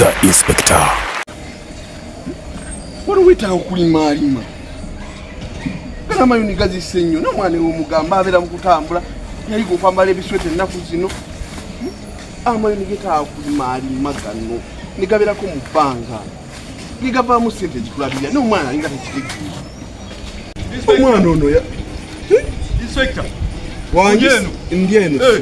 The Inspector. Waliwo wetaaga okulimaalima kana mayuni gazise nnyo nomwana ewomugamba abeera mu kutambula yayiga okwambala ebisweta ennaku zino hmm? amayuni getaaga kulimaalima gano ne gabeerako mu bbanga ne gavaamu ssente ezikulabirira n'omwana alinga tekitegeera omwana ono ya hmm? ndi eno eh.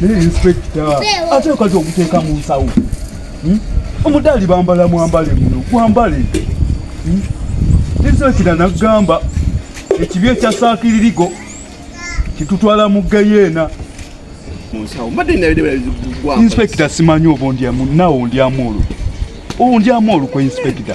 Naye inspekita ate okaza okuteeka mu nsawo hmm? omudaali bambala mwambale muno gwambale hmm? inspekita nagamba ekibi ekya saakiririgo kitutwala mu geyeena inspekita simanyi obo ndyamu nawo ndyamu olwo owo ndyamu olukwe inspekita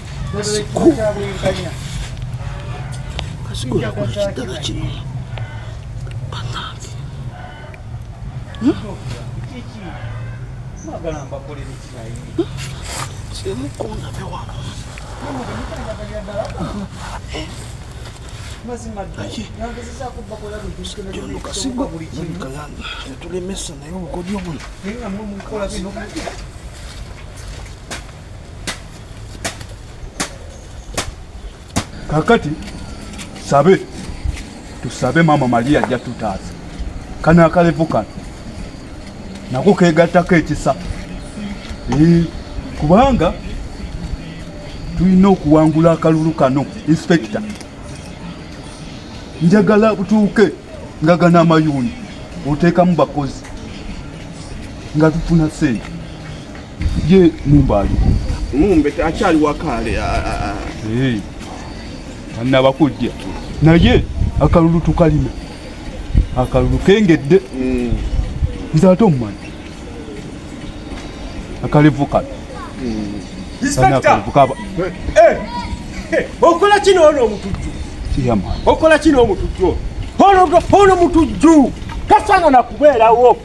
Kasigo tulemesa naye obukodyo buno kakati sabe tusabe mama maria ajja tutaasa kano akalevu kano nako kegattako ekisa kubanga tulina okuwangula akalulu kano inspekita njagala butuuke nga gana amayuuni oteekamu bakozi nga tufuna sente Ye Mumba ali. Mumba akyali wakaale. Hey. Anna bakujja. Naye akalulu tukalina. Akalulu kengedde. Mm. Nze ate omumanyi. Akalevu kale. Mm. Inspector. Eh. eh. Okola kino ono omutujju. Yama. Okola kino omutujju. Ono ono mutujju. Kasana na kubeerawo.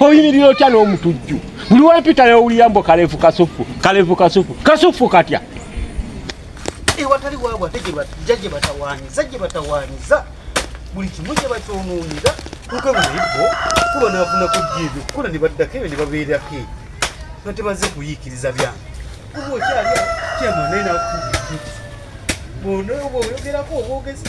oyimirira otya n'omutujju buli wepita yowulira mbu kalevu kasufu kalevu kasufu kasufu katya ewatali waabwe ate jja gye batawaanyiza gye batawaanyiza buli kimu gye bakyonoonera kuko bunaibbo kuba naafuna kujja ebyo kukola ne baddako ebyo ne babeerako ebyo nga tebaze kuyiikiriza byange kuba okyali kyamanaye nakuuti bonaoba oyogerako obwogezi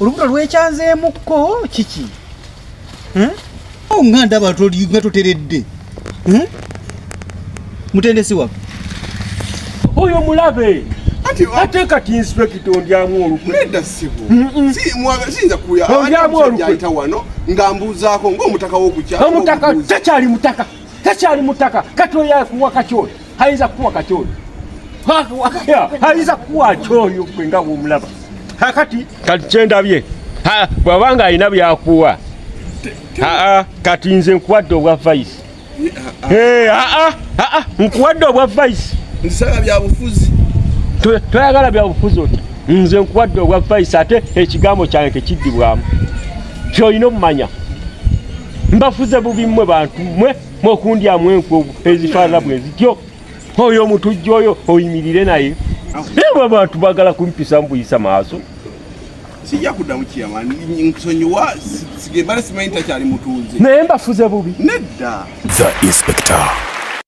olubuto lwekyanzeemukko kiki nga ndaba nga toteredde mutendesi waffe oyo mulabe ate kati inspekita ondyamu olukweondyamu olukwe omutaka tekyali mutaka tekyali mutaka kati oyakuwa kati oyo hayinza kuwa kati oyo hayinza kuwa ki oyo gwe nga womulaba kakati kati kyendabye bwaba nga alina byakuwa aa kati nze nkuwadde obwa vice aa nkuwadde obwa vice nsaga byabufuzi toyagala byabufuzi oti nze nkuwadde obwa vice ate ekigambo kyange tekiddibwamu kyolina omumanya mbafuze bubi mmwe bantu mmwe mwekundyamu enkwe ezifaanana bwe zityo oyo omutujja oyo oyimirire naye ewe abantu bagala kumpisa mbuyisa maaso sijja kuddamu kiyama nsonyiwa sigembale simanyi takyali mutunzi naye mbafuze bubi nedda the inspector